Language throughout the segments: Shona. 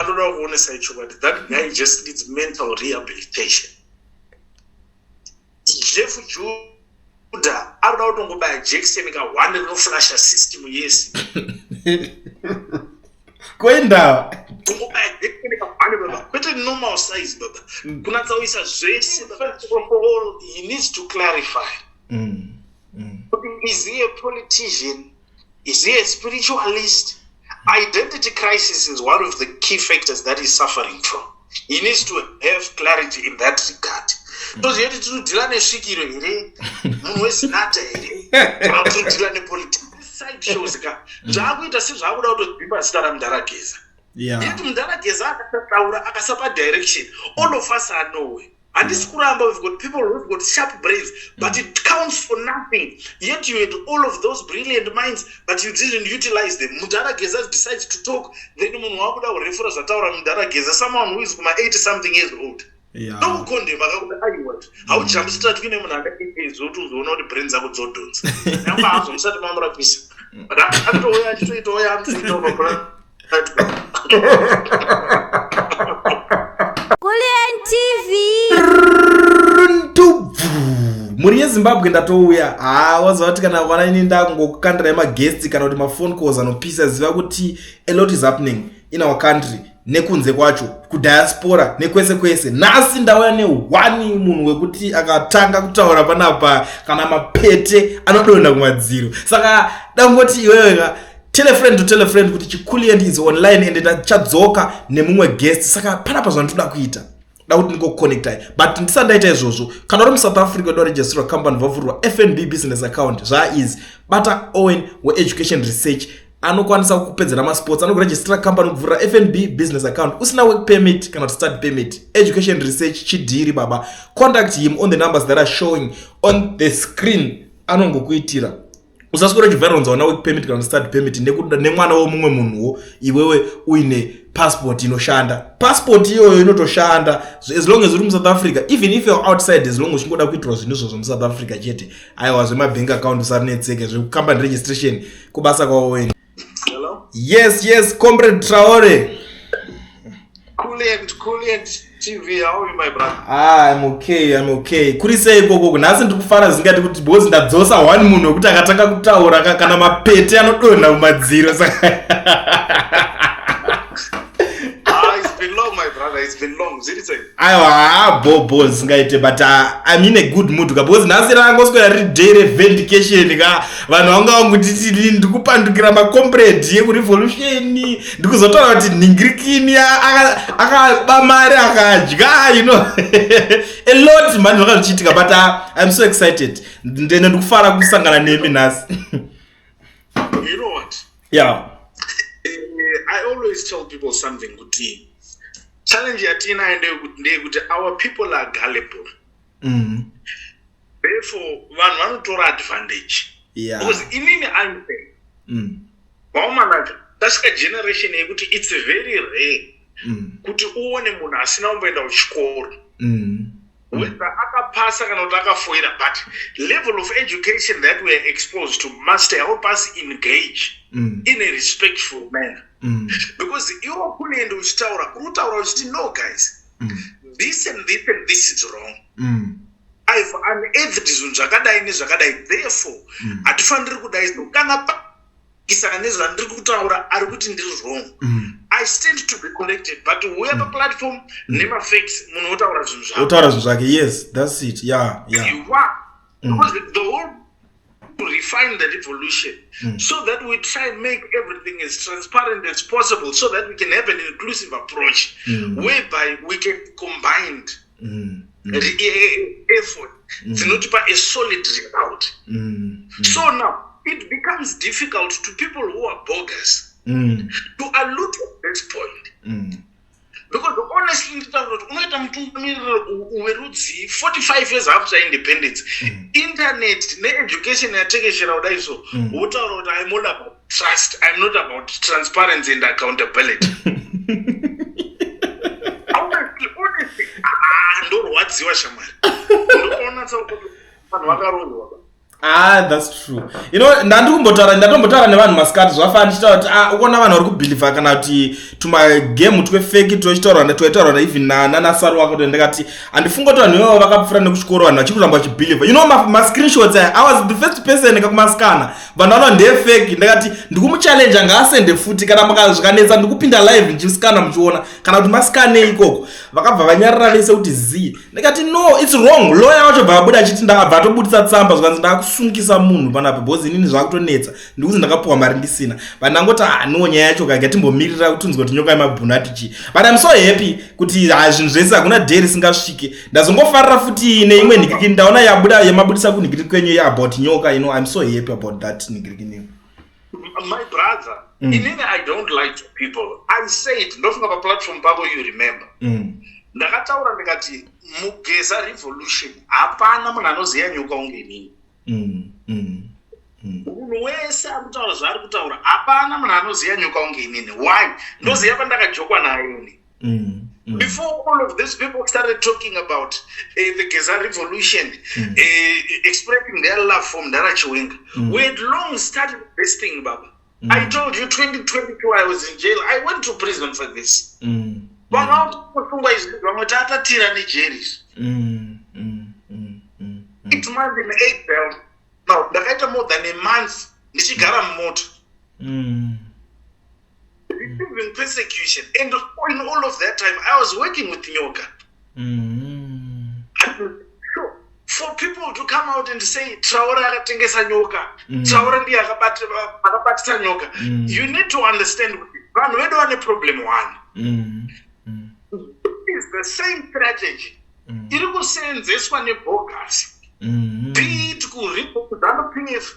anoda kuonesa ichokwadi that guy just needs mental rehabilitation jeff juda anoda kutongobaya jackson ka one rinoflasha system yese koindawa kungobaya jackson ka one baba kwete normal size baba mm. kunatsa kuisa zvese he needs to clarify mm. Mm. is he a politician Is he a spiritualist? Identity crisis is one of the key factors that he's suffering from. He needs to have clarity in that regard. Hmm. toziva kuti tinodhila nesvikiro here munhu wezinata here kana kuti tinodhila nepoliticside shows ka hmm. zvaakuita sezvaakuda kutodzimba zita ramudharageza yet mudharageza akasataura akasapa direction all of us are nowhere handisi kuramba we've got people who've got sharp brains but it counts for nothing yet you had all of those brilliant minds but you didn't utilize them mudhara geza decides to talk then munhu wakuda kurefura zvataura mudhara geza someone who is kuma 80 something years old ndokukondema kakuda aiwat hauchambi sitratwi nemunhu aka 8 years old uzoona kuti brain dzako dzodhonza nyangwe hazo musati mamurapisa but akatouya achitoitawo yaamtoitaaa Kulien TV mhuri yezimbabwe ndatouya haa waziva kuti kana vana ini ndakungokukandirai maguest kana kuti mafone calls anopisa ziva kuti a lot is happening in our country nekunze kwacho kudiaspora nekwese kwese nhasi ndauya nehwani munhu wekuti akatanga kutaura panapa kana mapete anodonha kumadziro saka dangoti iweweka tell a friend to tell a friend kuti chikulient is online and ndachadzoka nemumwe guest saka panapa zvandoda kuita da kuti ndingoconnectai but ndisa ndaita izvozvo kana uri musouth africa da registrwa company vavhurwa fnb business account zvaaizi bata owen weeducation research anokwanisa kupedzera masports anokuregistra company kubvurira fnb business account usina work permit kana kuti study permit education research chidhiri baba contact him on the numbers that are showing on the screen anongokuitira usaswera uchivhaira unzi hauna work permit kana start permit nekuda nemwana womumwe munhuwo iwewe uine passport inoshanda passport iyoyo inotoshanda as long as uri musouth africa even if youare outside as long uchingoda kuitirwa zvinhu izvozvo musouth africa chete aiwa zvemabank account usarinetseke zvekukambani registration kubasa kwawoweni Hello? Yes, yes, Comrade Traore. Kulent, Kulent TV, how are you my brother? Ah, I'm okay, I'm okay. Kuri sei ikoko, nhasi ndiri kufara zingati kuti because ndadzosa one munhu wekuti akatanga kutaura kana mapete anodonha kumadziro saka. Ah, it's been long my brother, it's been long. Ziri sei? aiwa haa bho bho zvisingaite but ah, im in a good mood ka because nhasi rangoswera riri day revendication ka vanhu vanga vangutiti ndikupandukira macomprade yekurevolution ndikuzotaura kuti nhingirikini akaba mari akadya you know a lot mhani zvanga zvichiitika but ah, im so excited ndene ndikufara kusangana nemi nhasi you know what yeah uh, i always tell people something kuti challenge yatiinayo ndeyekuti our people are gullible mm -hmm. therefore vanhu vanotora advantage yeah. because inini impen mm. vaomanacho tasvika generation yekuti its very rare mm. kuti uone munhu asina kumboenda kuchikoro mm. Mm. whether akapasa kana kuti akafoira but level of education that we are exposed to must help us engage mm. in a respectful manner mm. because iwo kunoenda uchitaura kuri kutaura uchiti no guys mm. this and this and this is wrong mm. ive unearthed zvinhu zvakadai nezvakadai therefore mm. hatifaniri mm. kudai so kana isaka nezvandiri kutaura ari kuti ndiri wrong mm. i stand to be corrected but uya mm. paplatform mm. nemafacts munhu otaura zvinhu zvake otaura zvinhu zvake yes thats it ya ya the whole to refine the revolution mm. so that we try and make everything as transparent as possible so that we can have an inclusive approach mm. whereby we can combined mm, mm. E, e, e, effort mm. dzinotipa mm. a solid result mm, mm. so now it becomes difficult to people who are bogus mm. to allude at this point mm. because honestly nditaura kuti unoita mutungamiriro werudzii 45 years after independence mm. internet needucation yatekeshera kudai so mm. wotaura kuti aimodabaa trust i'm not about transparency and accountability ah, ndorwadziwa shamwari ndoona vanhu vakaroorwa Ah, that's true. You know, ndandikumbotaura ndatombotaura nevanhu masikati zvafana ndichitaura kuti ah ukona vanhu vari kubhilivha kana kuti tuma game twe fake tochitaura na toitaura na even na nana saru wako to ndakati andifunga kuti vanhu ivo vakapfura nekuchikoro vanhu vachikuramba vachibhilivha. You know ma, ma screenshots I, I was the first person nekakumasikana vanhu vanova ndefeki ndakati ndikumuchallenja ngaasende futi kana makazvikanetsa ndikupinda live ndichisikana muchiona kana kuti masikanei ikoko vakabva vanyarira vese kuti zii ndikati no its wrong loya wacho bva abuda achiti ndakabva atobudisa tsamba zvikanzi ndaakusungisa munhu panapo bcause inini zvakutonetsa ndikuti ndakapuwa mari ndisina vandangoti haniwo ah, nyaya yacho kaga timbomirira kutunzwa kuti nyoka yemabhunu ati chii but im so happy kuti hazvinhu ah, zvese hakuna day risingasvike ndazongofarira futi neimwe nigiriki ndaona yabuda yamabudisa kunigiriki kwenyu ye about nyoka you know im so happy about that nigiriki new my brother mm. inini i don't like to people i said ndofunga paplatform pavo you remember mm. ndakataura ndikati mugeza revolution hapana munhu anoziva nyoka unge inini mm, mm, mm. munhu wese ari kutaura zvaari kutaura hapana munhu anoziva nyoka unge inini why ndoziva mm. pandakajokwa nayo ini mm. Mm. Before all of these people started talking about uh, the Gaza revolution, mm. uh, expressing their love for Mdara Chiwenga, mm. we had long started this thing, Baba. Mm. I told you 2022 I was in jail. I went to prison for this. Mm. Vamwe mm. vakusungwa izvi vamwe tatatira nejeri izvi. Mm. Mm. Mm. Mm. mm. It month in April. Now ndakaita more than a month ndichigara mumoto. Mm. Receiving persecution and in all of that time I was working with Nyoka. Mm. for people to come out and say traore akatengesa nyoka mm. traore ndiye akabatisa nyoka mm. you need to understand vanhu vedu vane problem one mm. mm. is the same strategy mm. iri kuseenzeswa nebogas mm. be it kuripozanupf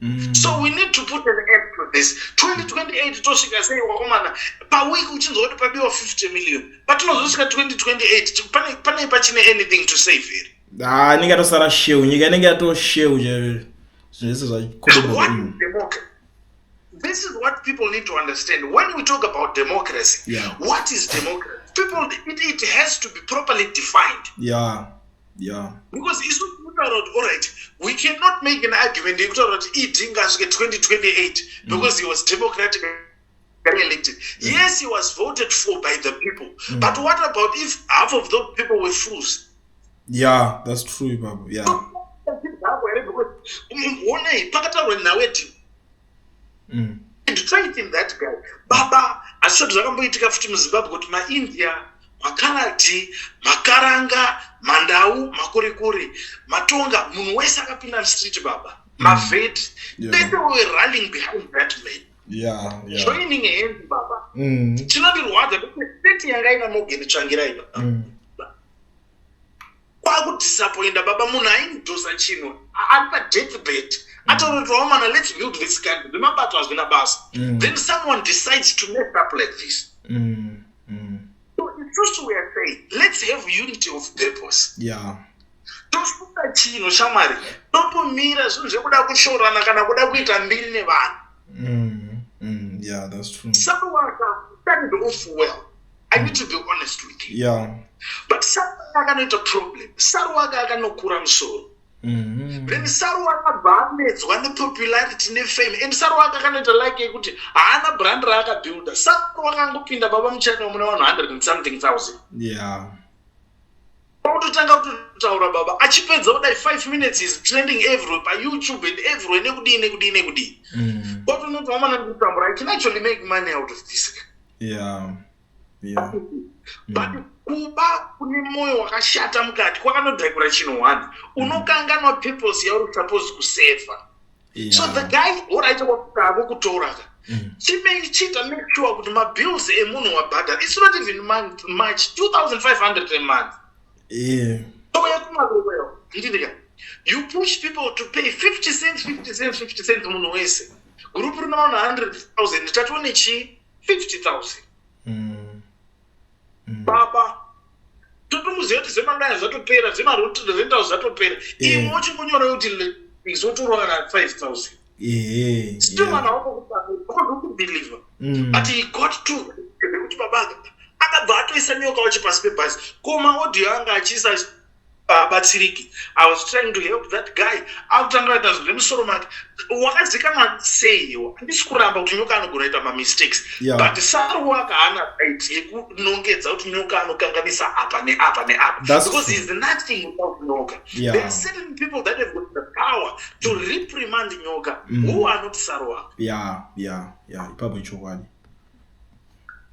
Mm. so we need to put an end to this 2028 tosvika sei wakomana paweek uchinzwa kuti pabiwa 50 million patinozosvika 2028 pane pane pachine anything to save here ha inenge yatosara sheu nyika inenge yatosheu chaivezvo zvese zvakodobaoke This is what people need to understand. When we talk about democracy, yeah. what is democracy? People, it, it has to be properly defined. Yeah. yeah. because isu kutaura kuti allright we cannot make an argument yekutaura kuti ed ngasvike 2028 mm. because he was democratic elected mm. yes he was voted for by the people mm. but what about if half of those people were fools yeah that's true baba yeah honei pakataurwa nhau yedhini mm. and faith in that guy baba asisati zvakamboitika futi muzimbabwe kuti maindia makaradhi makaranga mandau makurikuri matonga munhu wese akapinda mstreet baba mm. mavedi yeah. pese we running behind that man yeah, yeah. joining hand baba mm. chinondirwadza kuti state yanga ina mogeni tsvangirai baba mm. kwakudisappoinda baba munhu aindosa chinhu ari padeathbed mm. atorotowa mwana lets build this kind zvemabato hazvina basa mm. then someone decides to mess up like this mm. Mm. so isusu weare saying let's have unity of purpose yeah tosuka chinhu shamwari totomira zvinhu zvekuda kushorana kana kuda kuita mbiri nevanhu mm. mm. yeah that's true someone can stand off well i need to be honest with you yeah. but akanoita problem saru wake akanokura musoro Mm-hmm. then saru akabva anetswa nepopularity nefame and saru wake akanoita like yekuti haana brand raakabuilda saru wakangopinda baba muchani wamuna vanhu 100 and something thousand yeah pakutotanga kutotaura baba achipedza kudai five minutes is trending everywhere payoutube and everywhere nekudii nekudii nekudii mm. but unotoamana ndikutambura i can actually make money out of this yeah. Yeah. but mm. kuba kune mwoyo wakashata mukati kwakanodhakura chinhu one mm. unokanganwa purpose yauri supposed kuseva yeah. so the guy oraita kwakutavo kutouraka mm. chimei chiita make sure kuti mabills emunhu wabhadhara its not even month march 2500 emonth yeah. so yekumaroero ndidika you push people to pay 50 cents 50 cents 50 cents munhu wese group rina 100000 tatione chii 50000 mm. mm. baba totomuziva kuti zvemadaya zvatopera zvemarentals zvatopera eh. imwe uchingunyora kuti izotorwa kana 5000 ehe still mwana wako kutaakubiliva mm. but he got to kuti baba akabva atoisa nyoka wacho pasi pebhazi ko maaudio anga achiisa abatsiriki i was trying to help that guy akutanga kuita zvinhu zvemusoro make wakazikanwa sei iwo handisi kuramba kuti nyoka anogona kuita mamistakes yeah. but saru waka haana right yekunongedza kuti nyoka anokanganisa apa neapa neapa because heis nothing without nyoka yeah. there are certain people that have got the power to reprimand nyoka mm. who are not saru waka yeah, yeah, yeah. ipapo ichokwadi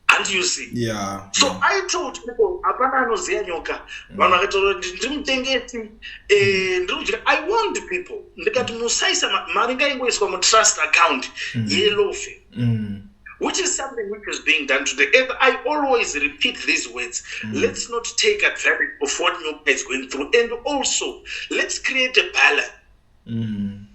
Can't you see? Yeah. So yeah. I told people, hapana anoziva nyoka. Mm. Vanhu vakataura kuti ndiri mutengesi, eh, ndiri kudya. I warned people. Ndikati musaisa mari ngaingoiswa mutrust account mm. yelofe. Mm. Which is something which is being done today. And I always repeat these words. Mm. Let's not take advantage of what Nyoka is going through. And also, let's create a balance. mm.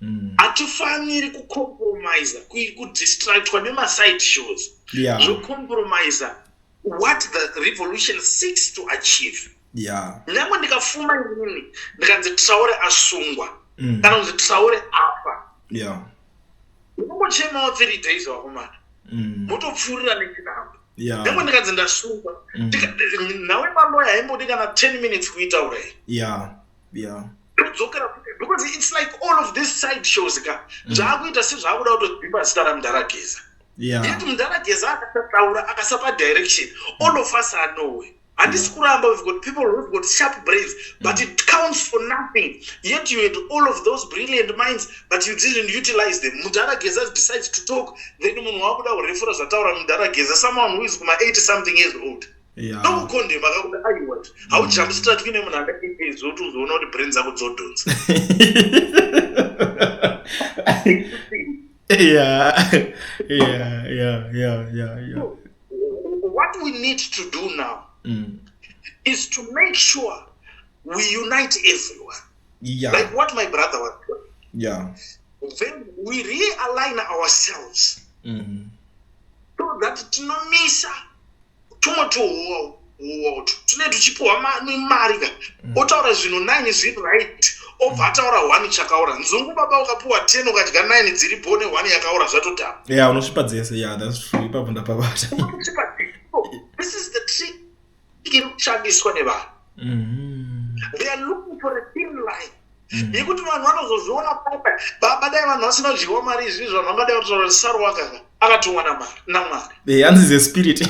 Mm. hatifaniri kucompromisa kudistractwa nemaside shows yeah. zocompromisa what the revolution seeks to achieve yeah. nyangwe ndikafuma inini ndikanzi traure asungwa mm. kana kunzi traure afa yeah. unongochemawo three days vakomana mm. motopfuurira mm. nechinambo yeah. nyangwe ndikanzi ndasungwa mm. nawe maloya haimbodi kana ten minutes kuitaurei yeah. yeah todzokera because it's like all of this side shows ka mm. zvaakuita sezvaakuda kutozvimba zita ramudhara geza yet mudhara geza akasataura akasapa direction all of us are noway handisi kuramba we've got people who've got sharp brains but mm. it counts for nothing yet you had all of those brilliant minds but you didn't utilize them mudhara geza decides to talk then munhu waakuda kurefura zvataura mudhara geza someone who is kuma 80 something years old ndokukondema kakuda aiwat haujambi strat kuine munhu andaizoti uzoona kuti brain dzako dzodhonza what we need to do now mm. is to make sure we unite everyone yeah. like what my brother was doing yeah. then we realign ourselves mm -hmm. so that tinomisa tumwe tuhowa uwo tune tuchipiwa mari ka mm. otaura zvinhu nine zviri right obva ataura one chakaora nzungu baba ukapiwa ten ukadya nine dziri bone one yakaora zvatodhama ya unosvipa dzese ya thats true ipapo ndapabata this is the trick iri kushandiswa nevanhu mm-hmm. they are looking for a thin line mm. yekuti vanhu vanozozviona papa baba dai vanhu vasina dyiwa mari izvi zvanhu vangadai vatotaura kuti saru wakaka akatumwa namwari eh, hanzi ze spirit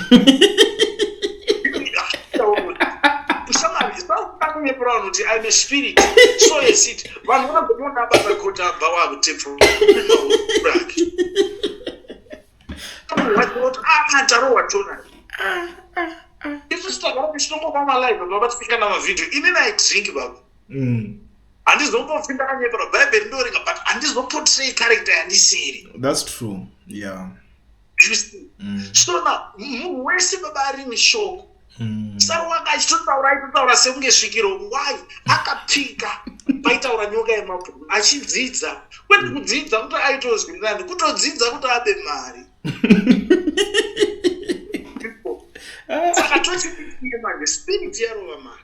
kunyeperwa vanhu kuti im a spirit so yes it vanhu vanogoona basa kota abva wakuteprake atarohwa tona isu sitagara tichitongopa malive baba tifikana mavhidhio ini naidrink baba mm. handizombofi ndakanyeperwa bhaibheri ndoringa but handizopotrei character yandisiri thats true yeah you see mm. so now munhu wese baba ari mishoko mm. sarowanga achitotaura aitotaura sekunge svikiro why akapika paitaura nyoka yemabhuru achidzidza kwete mm. kudzidza kuti aitozwirirani kutodzidza kuti abe mari saka tochiiye manje spirit yarova mari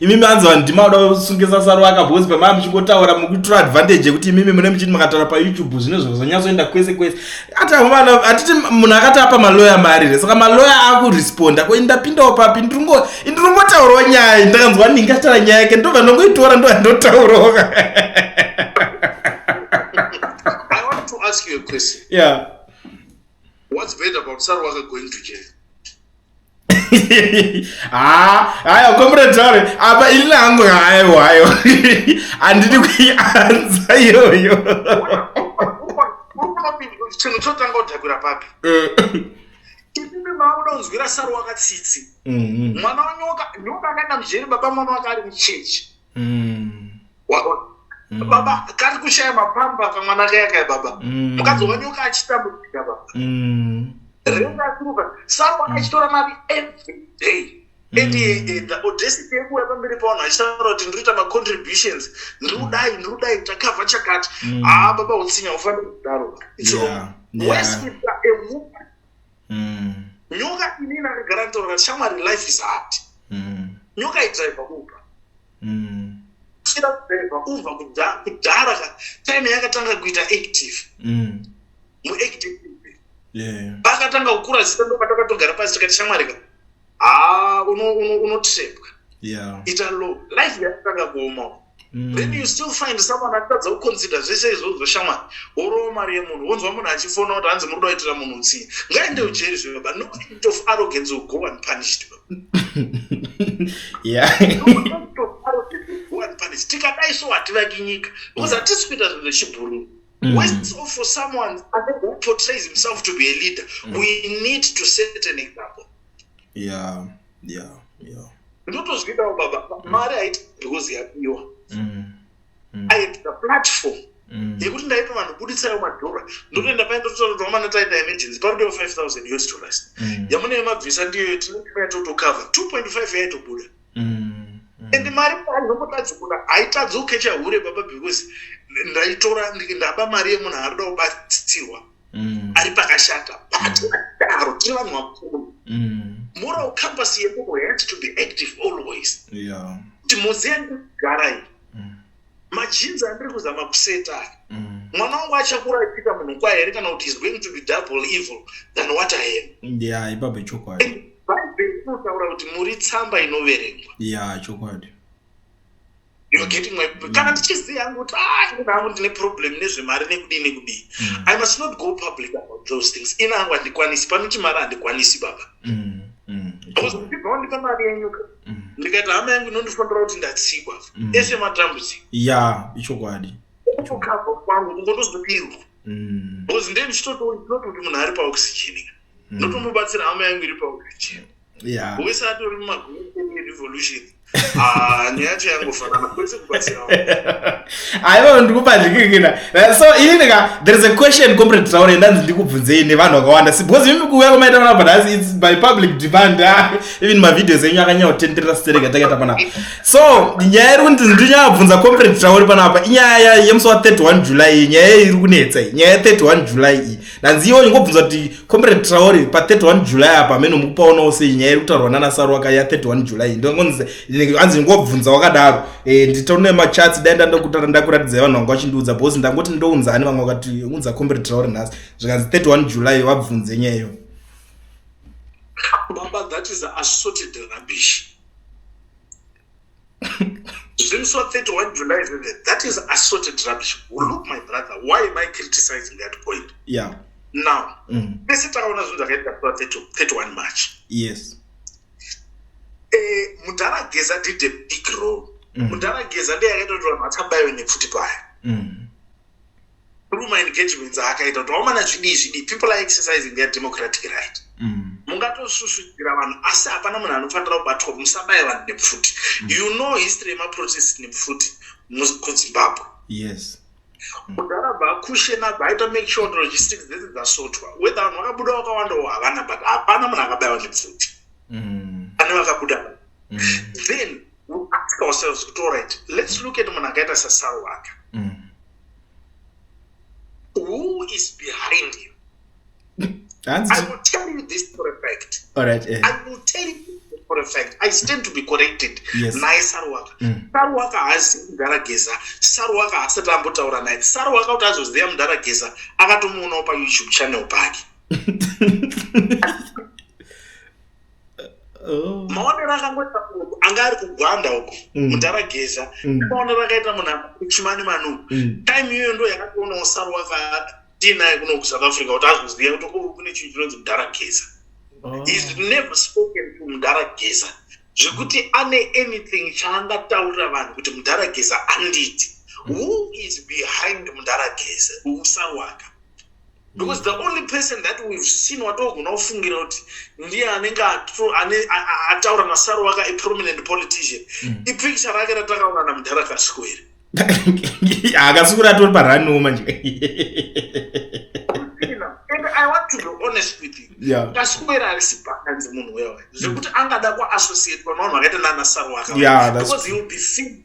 imimi hanzi vanhu ndimauda kusungisa saro aka bhozi pamava muchingotaura mukutora advantage yekuti imimi mune muchiti makataura payoutube zvine zvazonyatsoenda kwese kwese atavana hatiti munhu akati apa maloya mari hre saka maloya akuresponda ko indapindawo papi ndiringotaurawo nyaya ndakanzwa ndingatara nyaya yake ndobva ndongoitora ndova ndotaurawo yeah. what's bad about sarwaka going to jail haa haya komuredzare apa ini hangu hayo hayo handidi kuianza iyoyo chinhu chotanga kudhakura papi eh. ipimi maakuda kunzwira saro wakatsitsi mhm. mwana wanyoka nyoka akaenda mujeri baba mwana wake ari muchechi mm. mm. baba kari kushaya mapamba kamwana kaya kaya baba mm. mukadzi mm. wanyoka achitambudzika baba mm. rendakuruka sapa mm. achitora mari every day Mm. audacity yekuuya pamberi pavanhu achitaura kuti ndiri kuita macontributions ndiri kudai ndiri kudai takavha chakati haa mm. ah, baba utsinya ufanire kudaro mm. nyoka ini nandagara nditaura shamwari life is hard mm. nyoka idriver uber mm. kusvira kudriver uber kudhara ka time yakatanga kuita active mm. muactive pakatanga kukura zita ndo patakatogara pasi tikati shamwari ka haa unotrepwa ita low life yakatanga kuoma Mm. then you still find someone atadza kuconsider zvese izvozvo shamwari worowa mari yemunhu wonzwa munhu achifona kuti hanzi muri doitira munhu utsinye ngaende ujeri zvino but no act of arrogance will go unpunished tikadai so hativaki nyika because hatisi kuita zvinhu zvechibhuruu Mm. West or for someone who portrays himself to be a leader, mm. we need to set an example. Yeah. yeah yeah ndotozvidawo baba mm. mari haiti because yapiwa mm. mm. i had the platform mm. yekuti ndaito vanhu buditsayo madhora ndotoenda paye ndototaura mwana taita emergency parudewo 5000 yours to rest mm. yamune yemabvisa ndiyo yetinoaa totocover 2.5 yaitobuda mm. mm. and mari ainombotadzi kuna haitadzi ukecha hure baba because ndaitora ndaba mari yemunhu aarida kubatsirwa mm. ari pakashata but mm. daro tiri vanhu vakuru mm. moral compass yemuno has to be active always kuti mozi yandikugara iyi mm. majinzi andiri kuzama kuseta mm. mwana wangu achakura achiita munhu kwaye here kana kuti is going to be double evil than what i am ya ipapo chokwadi bhaibheri inotaura kuti muri tsamba inoverengwa ya chokwadi kana ndichiziva yangu kuti aaa ah, ndine problem nezvemari nekudii nekudii mm. i must not go public about those things ina angu handikwanisi pano chimari handikwanisi baba mm, mm, because ndibva wandipa mari yenyuka ndikaita hama yangu inondifonera kuti ndatsikwa ese matambudziko ya ichokwadi kukava kwangu kungotozodirwa because ndee ndichitotoona kuti munhu ari paoxygen ndotomubatsira hama yangu iri paoxygen yeah. wese atori mumaguru revolution ah, nyaya yacho yangofanana kwese kubatsira aiwa ndikupa ndikikina so inini ka there is a question comrade traure ndanzi ndikubvunzei nevanhu vakawanda because imi kuuya kwamaita vanapa nhasi its by public demand ah, even mavideos enyu akanyanya kutenderera stereka takaita panapa so nyaya iri kunzi ndinyaya bvunza comrade traure panapa inyaya yemusi wa 31 july nyaya iri kunetsa nyaya 31 july iyi nhanzi iyoyo ngobvunza kuti comrade traore pa 31 july apa amene mukupaonawo sei nyaya iri kutaurwa nana saruwaka ya 31 july ndoanzi ngobvunza wakadaro eh, nditaune machatsi dai ndandokutara ndakuratidzai vanhu vanga vachindiudza bhosi ndangoti ndounza ani vanga vakati unza comrade traore nhasi zvikanzi 31 july vabvunze nyaya iyo baba that is assorted rubbish zvimusi wa 31 july zveve that is assorted rubbish well, look my brother why am i criticizing that point yeah. now mm. pese mm. takaona zvinhu zvakaita 31 march yes eh, mudhara geza did a big role mm. mudhara geza ndeyakaita kuti vanhu vakabayiwe nepfuti paya mm. through my engagements akaita kuti vaomana zvidii zvidii people are exercising their democratic right mm. mungatosusudzira vanhu asi hapana munhu anofanira kubatwa musabaya vanhu nepfuti mm. you know history yemaprotest nepfuti kuzimbabwe yes kudhara mm. bvakushena bvaita make sure logistics dzese dzasotwa whether vanhu vakabuda vakawandawo havana but hapana munhu akabayawa nepfuti mm. pane vakabuda mm. then we ask ourselves kuti allright let's look at munhu akaita sasaro waka who is behind you i will tell you this for a fact all right eh. i will tell you for a fact i stand to be corrected naye yes. saruwaka mm. saruwaka haazi mudhara geza saruwaka haasati ambotaura naye saruwaka kuti azoziva mudhara geza akatomuonawo payoutube channel pake Oh. maonero akangoita munhu anga ari kugwanda uko mm. mudhara geza mm. maonero akaita munhu akuchimani manu mm. time iyoyo ndo yakatoona usaro wakatiinaye kuno kusouth africa kuti azoziva kuti o oh, kune chinhu chinonzi mudhara geza oh. is never spoken to mudhara geza zvekuti ane anything chaangataurira vanhu kuti mudhara geza anditi who is behind mudhara geza usaro waka because the only person that we've seen watogona kufungira kuti ndiye anenge ataura nasaro waka a prominent politician mm. ipicture rake ratakaona namudhara kasiko here akasukura atori paraniwo manje and i want to be honest with you yeah. kasikwera arisi pakanzi munhu wewe zvekuti angada kuassociate panavanhu vakaita nanasaro waka yeah, because he will be fee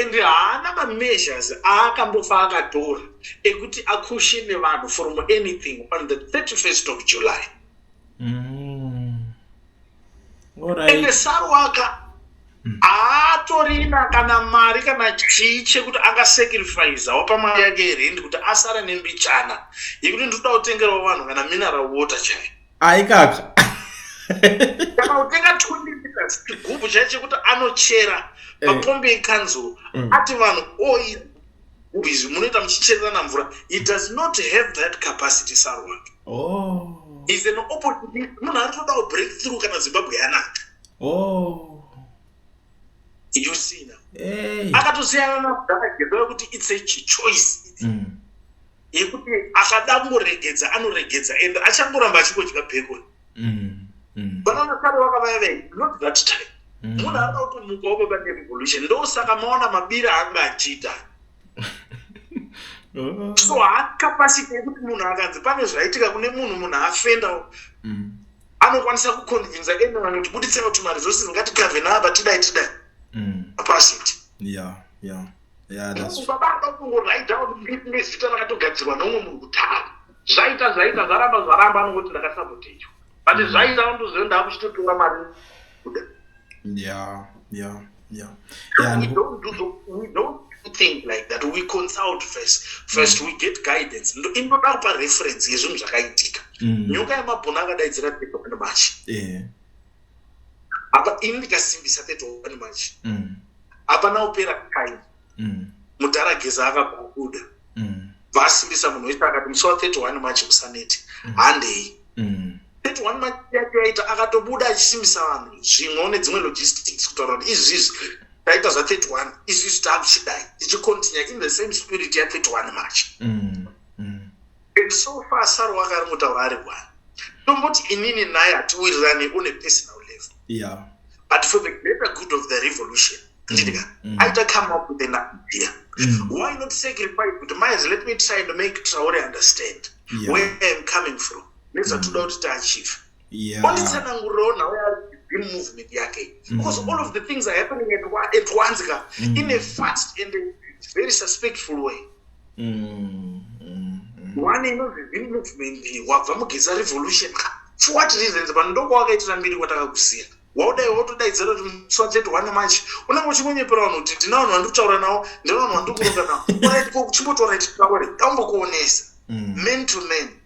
and haana mameasures aakambofa akatora ekuti akushe nevanhu from anything on the 31st of july mm. right. ende sarwaka mm. aatorina kana mari kana chii chekuti angasacrifisawo pamari yake yerendi kuti asare nembichana yekuti ndinoda kutengerawo vanhu kana mineral water chai aikaka kana kutenga 20 liters chigubhu chai chekuti anochera eh. mapombi ekanzuro mm. ati vanhu oil oh, izvi munoita muchichererana mvura he does not have that capacity sarwake oh. is an opportunity munhu ari kutoda kubreak through kana zimbabwe yanaka oh yosina akatosiyana nabdana genda yokuti its a choice mm. yekuti akada kungoregedza anoregedza and achangoramba achingodya bheko mm, mm. vanaona kare vakavaya vei not that time mm. munhu anoda kutomuka wababa nerevolution ndosaka maona mabira anga achiita oh. so hakapasiti yekuti munhu akanzi pane zvaitika kune munhu munhu afenda anokwanisa kuconvinsa anyone kuti buditsira kuti maresources ngatikave naapa tidai tidai apasiti yeah yeah baba akakungoraidawo nezita rakatogadzirwa neumwe munhu kutara zvaita zvaita zvaramba zvaramba anongoti ndakasabotechwa but mm. zvaita anondoziva ndaakuchitotora mari kuda ya ya ya think like that we consult first first mm. we get guidance inoda kupa reference yezvinhu zvakaitika mm. nyoka yemabhona akadaidzira tekomachi yeah. apa ini ndikasimbisa 31 march mm. apana opera time mm. mudhara geza akakubuda mm. vasimbisa munhu wese akati musi wa 31 march usaneti mm. handei mm. 31 march yake yaita akatobuda achisimbisa vanhu zvimwe une dzimwe logistics kutaura kuti izvizvi taita zva 31 izvizvi taakuchidai tichicontinue in the same spirit ya 31 march mm. And so far Saru wanga ari mutaura ari one. Tomboti inini naye hatiwirirane on a personal level. Yeah. But for the greater good of the revolution, ndidika, mm. mm. aita come up with an idea. Mm. Why not sacrifice kuti maizi let me try and make Traore understand yeah. where I'm coming from. Nezvatoda mm. kuti tiachieve. onditsanangurirawo nhau yain movement yake mm. because all of the things are happening at once ka mm. in a fast and a very suspectful way mm, one inonzi zim movement wabva mugeza revolution ka for what reasons vanhu ndokwawakaitira mbiri kwatakakusiya waudai wotodaidzira kuti muswachete wane manje unenge uchingonyepera vanhu kuti ndina vanhu vandikutaura navo ndina vanhu vandikuronga navo orit ko kuchimbotoraititaure daumbokuonesa mm. man to man mm.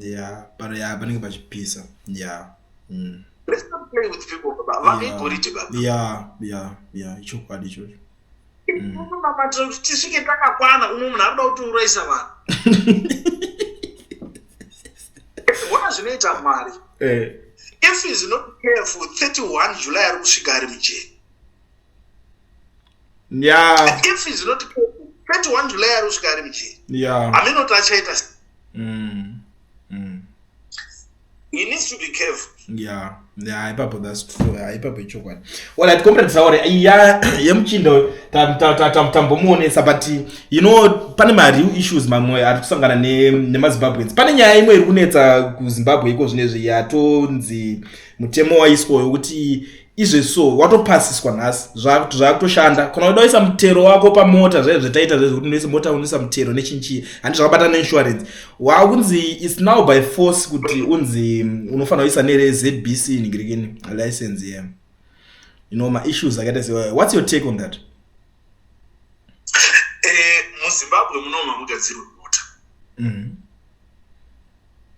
yeah but yeah panenge pachipisa yeah mm. let's not play with people baba vakaigoriti yeah. baba yeah yeah yeah ichokwadi ichocho unonamatira mm. kuti tisvike takakwana umwe munhu ari kuda kuti uraisa vanhu ona zvinoita mari eh. if is not careful 31 july ari kusvika ari mujeni yeah. if zinoti 31 july ari kusvika ari mujeri yeah. aminoti achaita mm. mm. he needs to be careful yeah yeah ipapo that's true yeah ipapo ichokwadi well at comrade saore iya yemuchindo tambomuonesa but you know pane ma real issues mamwe ari kusangana ne nemazimbabweans pane nyaya imwe iri kunetsa kuzimbabwe iko zvinezvi yatonzi mutemo waiswayo kuti izve so watopasiswa nhasi zvakutoshanda kana uda uisa mutero wako pamota zvaye zvetaita zvaye zvekuti unoisa mota unoisa mutero nechinchii handi zvakabata neinsurance wakunzi its now by force kuti unzi mm, unofanira kuisa nerezbc nigirikini license ye yeah. you know maissues akaita se what's your take on that eh, muzimbabwe muno mamugadzirwe mota mm-hmm.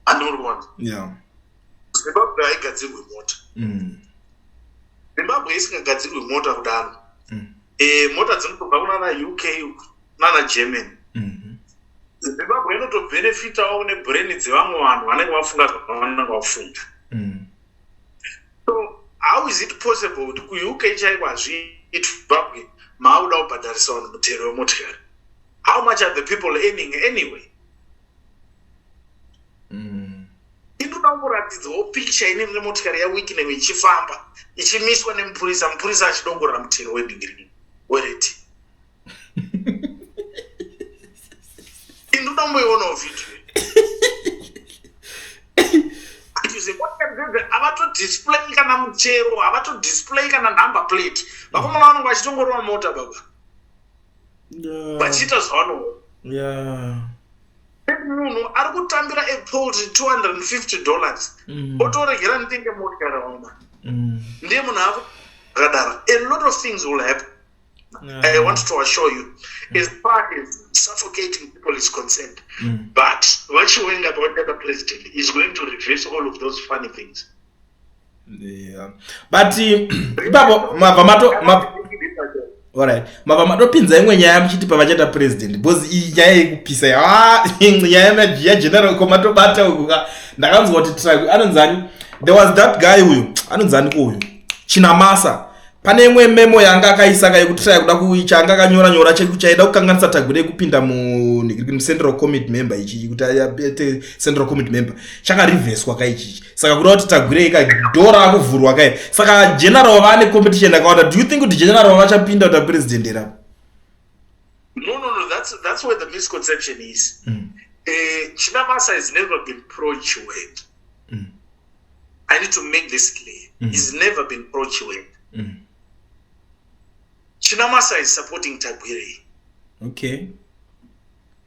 andiuri kuona yeah zimbabwe haigadzirwe mota mm. zimbabwe isingagadzirwe mota kudaro mm. e, mota dzinotobva kunana uk nana germany mm-hmm. zimbabwe inotobhenefitawo nebrain dzevamwe vanhu vanenge vafunga zvavanenge vafunda mm. so how is it possible kuti kuuk chaiko hazviitzimbabwe maakuda kubhadharisa vanhu mutero wemotikari how much are the people earning anyway Inoda kumboratidzawo pikicha ine rine motikari yaWicknam ichifamba ichimiswa nemupurisa, mupurisa achidongorera mutero wedingiri wereti. Inoda kumboionawo vhidhiyo iyi. kuti zvimotikari dzedze havatodisplay kana mutero havatodisplay kana number plate vakomana vanenge vachitongorova mota baba vachiita zvavanoona munhu ari kutambira epoultry 250 dollars mm. otoregera ndinge motyaraoma mm. ndiye munhu avo akadaro a lot of things will happen yeah. i want to assure you mm. as far as suffocating people is concerned mm. but vachiwenga pavatata president is going to reverse all of those funny things yeah. but ipapo mabva mato Alright. Mabva matopinza imwe nyaya muchiti pavachata president because iyi nyaya yekupisa ya ah, nyaya ya general ko matobata uku ka ndakanzwa kuti track anonzani there was that guy uyu anonzani ko uyu Chinamasa pane imwe memo yanga akaisa ka yekuti taya kuda kuicha anga akanyora nyora chekuti aida kukanganisa tagwire yekupinda mucentral committee member ichichi kuti aite central committee member chakarivheswa ka ichichi saka kuda kuti tagwire ika dora akuvhurwa kai saka general vane competition akawanda do you think kuti general vachapinda kuti apresident era no no no that's, that's where the misconception is mm. uh, eh, chinamasa has never been procured mm. I need to make this clear. Mm. He's never been pro Chiwenga. Mm. Chinamasa is supporting Tagwirei. Okay.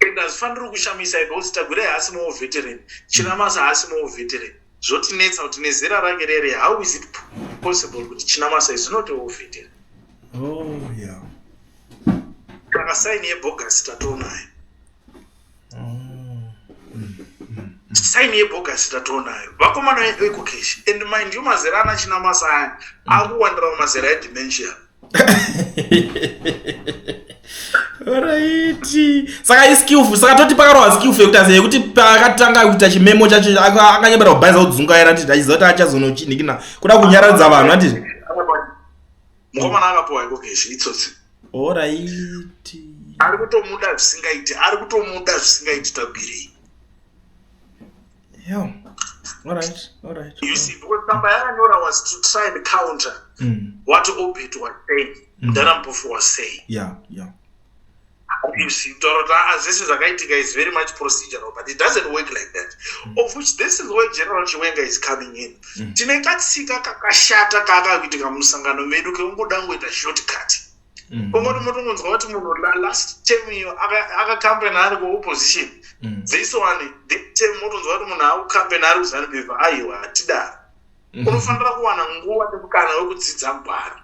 And as far as Rukushamisa, I don't Tagwirei has no veteran. Chinamasa has no veteran. Zvotinetsa kuti nezera rake rere, how is it possible kuti Chinamasa is not a veteran? Oh, yeah. Takasaini yebogus tatonayo. saini yebhogasi tatoonayo vakomana vedu ekokeshi and mind you mazera ana china masa aya akuwandira mumazera edementia raiti saka iskillful saka toti pakarohwa skillful yekuti aziva yekuti pakatanga kuita chimemo chacho akanyebera kubhaisa kudzungaira ati achiziva kuti achazonochinhikina kuda kunyaradza vanhu ati mukomana akapuwa iko keshi itsotsi oraiti ari kutomuda zvisingaiti ari kutomuda zvisingaiti tabirei yo alright alright you see because tsamba yaanyora was to try and counter mm. what obit was saying mdara mm. mpofu was saying yeah yeah obviously kutaura kuti aa ah, zvese zvakaitika is very much procedural but it doesn't work like that mm. of which this is where general chiwenga is coming in mm. tine katsika kakashata kaakakuitika musangano medu kekungoda kungoita short cut mm. pamoti motongonzwa kuti munhu last term iyo akacampena ari kuopposition mm. this one the term motonzwa kuti munhu akucampena ari kuzanupeva aiwa hatidaro mm. unofanira kuwana nguva nemukana wekudzidza gwara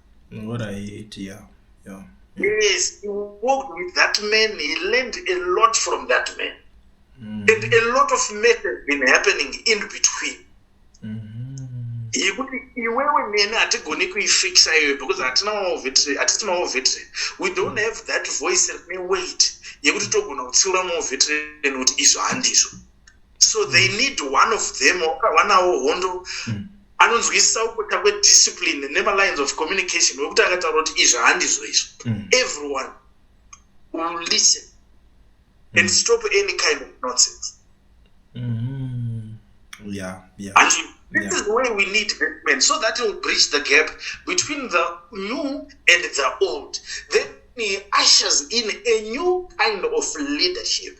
Alright, yeah, yeah. Yes, he worked with that man. He learned a lot from that man. Mm. And a lot of mess has been happening in between. yekuti mm-hmm. iwewe neni hatigoni kuifixa iyoyo because hatinawo vetri hatitinawo vetri we don't have that voice rine weight yekuti togona kutsiura mawo vetri nekuti izvo handizvo so they mm. need one of them wakawanawo hondo mm. anonzwisisa kupota kwediscipline nemalines of communication wekuti akataura kuti izvi handizvo izvo mm. everyone will listen and stop any kind of nonsense yeah, yeah. And this yeah. is where we need development so that will bridge the gap between the new and the old then he ushers in a new kind of leadership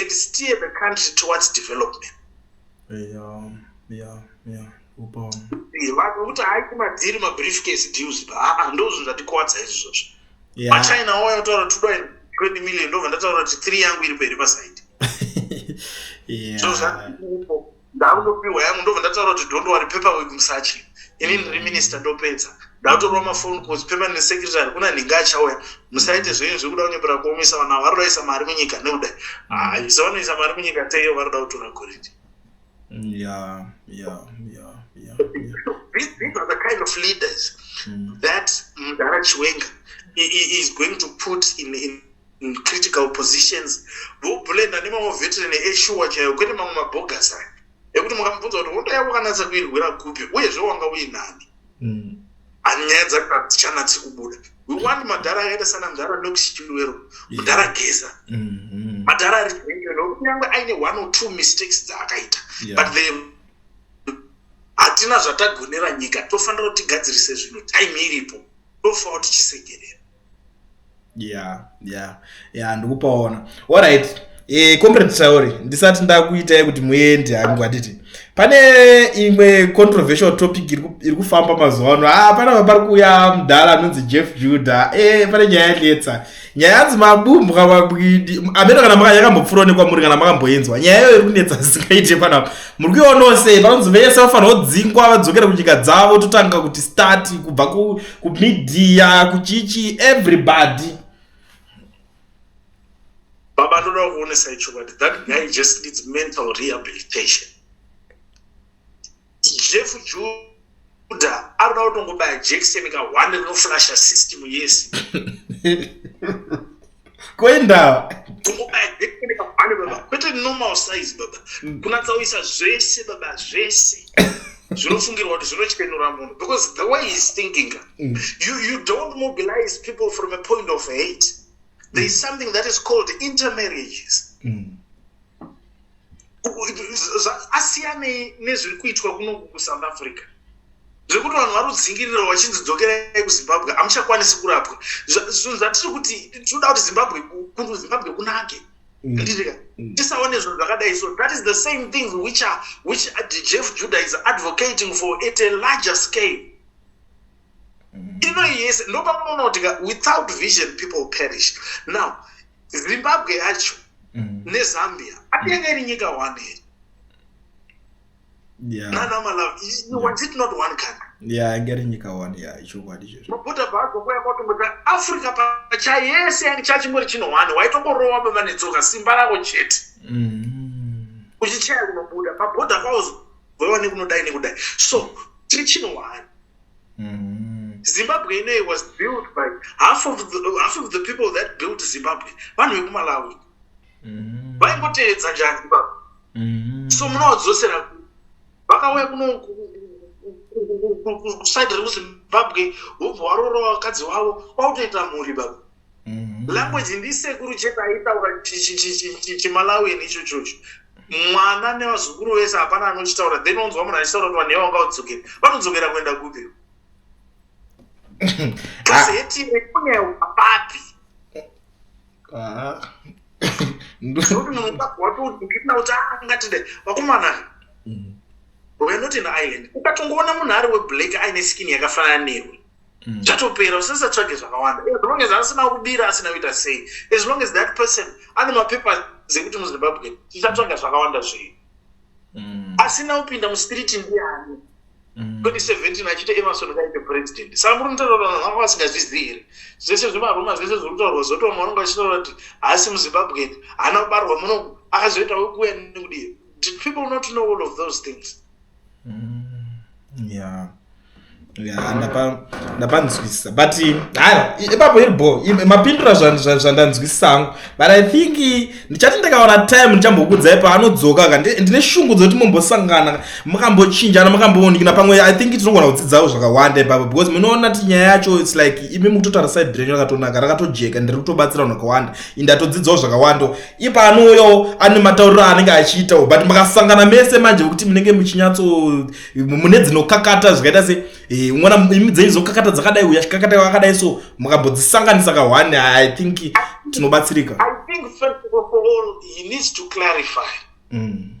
and steer the country towards development yeah, yeah, yeah. vanokuti hai kumadhiri mabrief case deals pa aa ndozvinhu zvatikuvadza izvozvo machina oya otaura tudo 20 million ndobva ndataura kuti three yangu iri peri pasaidi yeah. so, ndakutopiwa yangu ndobva ndataura kuti don't worry paper work musachi ini ndiri minister ndopedza ndakutorwa mafone calls paper nesecretary kuna nhinga achauya musaite zvenyu zvekuda kunyepera kuomesa vana vari kudaisa mari munyika nekuda haisa ah, vanoisa mari munyika teiyo vari kuda kutora goridhi yeah yeah yeah yeah, yeah. These, these are the kind of leaders mm. that mdara chiwenga is going to put in, in critical positions voblenda nemamwe veteran eshuwa chaiyo kwete mamwe mabhogasa ekuti mukamubvunza kuti hondo yavo kanatsa kuirwira kupi uyezve wanga uinani mm. ani nyaya dzakachanatsi kubuda we want madhara akaita sana mudhara nokusichilwero mudhara geza mm-hmm. madhara ari kunyange aine one or two mistakes dzaakaita but the hatina zvatagonera nyika tofanira kuti tigadzirise zvinhu time iripo tofanira kuti tisegerera yeah yeah yeah ndikupaona alright eh comrade sauri ndisati ndakuitai kuti muende hangu handiti pane imwe controversial topic iri kufamba mazuva ano ah panapa pari kuuya mudhara anonzi jeff juda eh pane nyaya yanetsa nyaya yanzi mabumbwa mabwidi ameno kana maka yakambopfuura nekwamuri kana makamboinzwa nyaya iyoyo iri kunetsa zisingaite panapa muri kuiona sei panonzi vese vafanira kudzingwa vadzokere kunyika dzavo totanga kuti start kubva kumedia kuchichi everybody baba ndoda kuonesa ichokwadi that guy just needs mental rehabilitation jeff juda anoda kutongobaya jekiseni kahwande rinoflasha system yese koendawa kwete normal size baba mm. kunatsauyisa zvese baba zvese zvinofungirwa kuti zvinochenura munhu because the way heis thinking mm. you, you don't mobilize people from a point of hate there is mm. something that is called intermarriages mm. asiyanei nezviri kuitwa kunoku kusouth africa zvekuti vanhu vari kudzingirira vachinzi dzokerai kuzimbabwe hamuchakwanisi kurapwa zvinhu zvatiri kuti tinoda kuti zimbabwe kuti zimbabwe kunake mm. nditika mm. tisaone zvinhu zvakadai so that is the same thing which, are, which jeff judah is advocating for at a larger scale ino yese ndopamunoona kuti without vision people perish now zimbabwe yacho mm. nezambia atenge iri nyika one here africa pachayese yange chachimuri chino one waitongorova baba netsoka simba rako chete mm. uchichaya kunobuda pabhodha kwaozovewa nekunodai nekudai so tiri chino one Mm-hmm. Zimbabwe inei was built by half of the, half of the people that built Zimbabwe vanhu vekumalawi mm-hmm. vaingoteedza mm -hmm. njani baba mm -hmm. so munoadzosera vakauya kuno kusaidi rekuzimbabwe hubva warora vakadzi wavo kwakutoita mhuri baba Mhm. language ndisekuru chete aitaura chi- chi- chi- chi- chi- chimalawian icho chocho mwana nevazukuru vese hapana anochitaura then onzwa munhu achitaura kuti vanhu yavanga kudzokera vanodzokera kuenda kupi kasi hetire kunewo apapi Ah. Ndo- nekuti munhu ukabva watodikirina kuti angatide vakomana Mm. we're not in ireland ukatongoona munhu ari weblack aine skin yakafanana newe mm. chatopera usasatsvage zvakawanda as long as asina kubira asina kuita sei as long as that person ane mapepa zekuti muzimbabwe tichatsvaga zvakawanda zvei mm. asina kupinda mustreet ndiani 2017 mm. achiti emerson kaite president saka muri mutaura vanhu vanga vasingazvizivi here zvese zvemaruma zvese zviri kutaurwa zvotooma vanonga vachitaura kuti haasi muzimbabwen haana kubarwa muno akazoita wekuuya nekudii did people not know all of those things Mm, yeah. Yeah, ndapanzwisisa but haya ipapo iri bo mapindura zvandanzwisisa hangu but i think ndichati ndakaona time ndichambokudzai paanodzoka ka ndine shungu dzekuti mumbosangana makambochinjana makamboonikina pamwe i think tinogona kudzidzawo zvakawanda ipapo because munoona ti nyaya yacho its like imi mukutotaura side renyu rakatonaka rakatojeka ndiri kutobatsira unhu akawanda indatodzidzawo zvakawanda ipa anouyawo ane matauriro anenge achiitawo but makasangana mese manje vekuti munenge muchinyatso mune dzinokakata zvikaita se eh, umwana imi dzenyu dzokakata dzakadai uya chikakata kakadai so mukambodzisanganisa ka one i think tinobatsirika mm.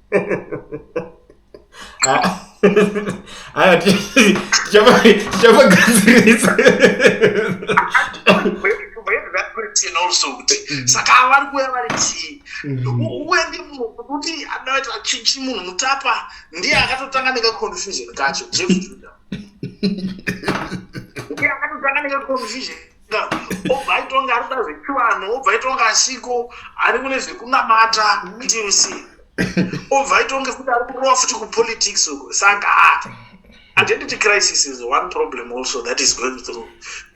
Aya tichapagadzirisa. Mm. saka ava vari kuuya vari chii mm. uye ndikuti adaita chichi munhu mutapa ndiye akatotanga nekaconfusion kacho jeff juda ndiye akatotanga nekaconfusion obva aitonga ari kuda zvechivanhu obva aitonga asiko ari kune zvekunamata ndc obva aitonge kuti ari kurova futi kupolitics uko saka identity crisis is one problem also that is going through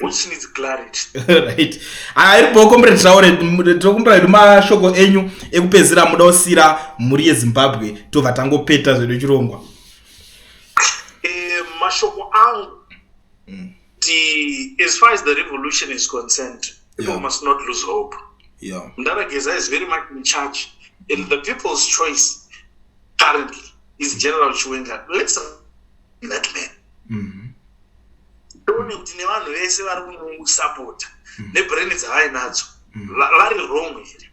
which needs clarity right ari bho comrade traore tokumbira hedu mashoko enyu ekupedzisira muda kusiyira mhuri yezimbabwe tobva tangopeta zvedu chirongwa eh, mashoko angu mm. as far as the revolution is concerned people yeah. must not lose hope yeah. mdarageza is very much in charge and the people's choice currently is general chiwenga let's that man mm -hmm. tione kuti nevanhu vese vari kumusapota mm. nebrain dzavainadzo mm. vari wrong here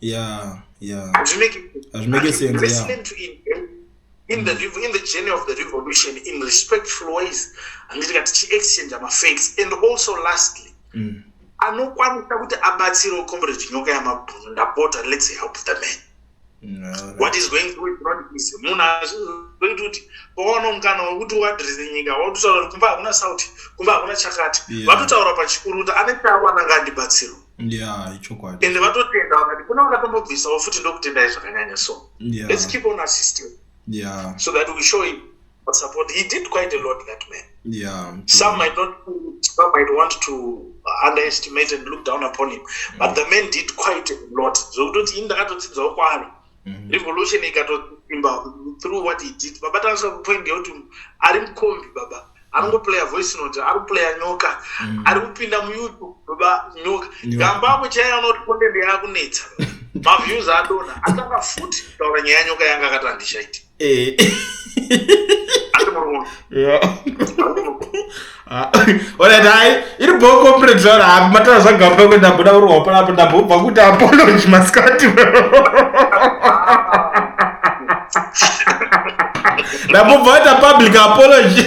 yeah yeah hazvimeke sense yeah in the in the journey of the revolution in respectful ways handiti ka tichiexchange mafacts and also lastly mm. anokwanisa kuti abatsirewo comrade nyoka yamabhunu ndapota let's help the man no, what is going through is not easy munhu azvizoita kuti pawana mukana wekuti uadrese nyika watotaura kuti kumba hakuna sauti kumba hakuna chakati vatotaura pachikuru kuti ane chaawananga andibatsirwa yeah ichokwadi and vatotenda vakati kuna vakatombobvisawo futi ndokutendai zvakanyanya so yeah. let's keep on assisting yeah. so that we show him what support he did quite a lot that man yeah some might not some might want to underestimate and look down upon him but mm. the man did quite a lot zvokutoti so, ini ndakatodzidzawo kwaari mm. revolution ikatosimba through what he did baba taasvika kupoint yekuti ari mukombi baba ari kuplaya voice note ari kuplaya nyoka mm. ari kupinda muyoutube baba nyoka gamba ako chaiye anoti content yaakunetsa maviews adona atanga futi kutaura nyaya yanyoka yanga akati handishaiti Eh. asi muri munhu Yeah. Ah, Alright, hayi iri bho corporate zvaro hapi matara zvagamba kwekuti ndamboda kurohwa panapo ndambobva kuti apology masikati ndambobva kuita public apology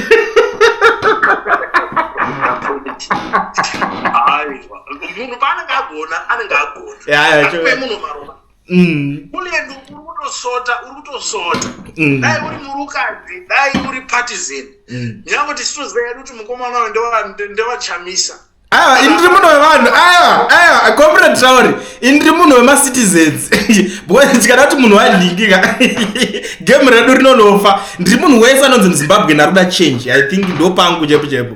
aiwa munhu paanenge agona anenge agona Yeah, yeah, sure. Akupe munhu maropa Mm. Kulendo uri kutosota uri kutosota mm. dai uri murukadzi dai uri partisan mm. nyange tichitoziva yedu kuti mukomana wayo ndewachamisa aiwa ah, ini ndiri munhu wevanhu aiwa aiwa acomprend sauri ini ndiri munhu wemacitizens because tikada kuti munhu wadlikika game redu rinonofa ndiri munhu wese anonzi muzimbabwe ndakuda change i think ndopangu chepo chepo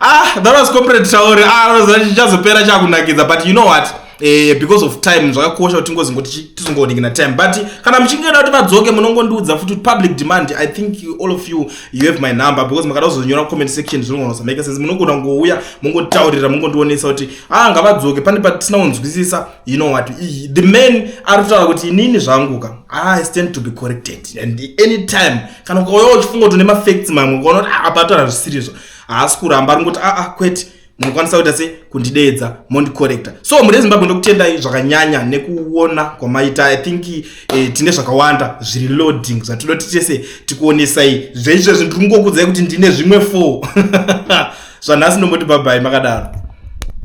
ah that was corporate tauri ah chazopera chakunakidza but you know what eh, because of time zvakakosha kuti tingozingoti tizongooneki na time but kana muchinge da kuti vadzoke munongondiudza futi kuti public demand i think all of you you have my number because makada kuzonyora comment section zvinogona kusamake sense munogona kungouya mungonditaurira mungondionesa kuti ah ngavadzoke pane patisina kunzwisisa you know what the man ari kutaura kuti inini zvanguka ah, i stand to be corrected and any time kana ukauya uchifunga kuti une mafacts mamwe ukaona kuti ah, apa atora zvisiri izvo haasi kuramba ari ngoti aa kwete munokwanisa kuita se kundideedza mondikorekta so mhuri yezimbabwe ndokutendai zvakanyanya nekuona kwamaita i think eh, tine zvakawanda zviri loading zvatinoti tese tikuonesai zveizvezvi ndiri kungokudzai kuti ndine zvimwe four zvanhasi ndomboti bhabhai makadaro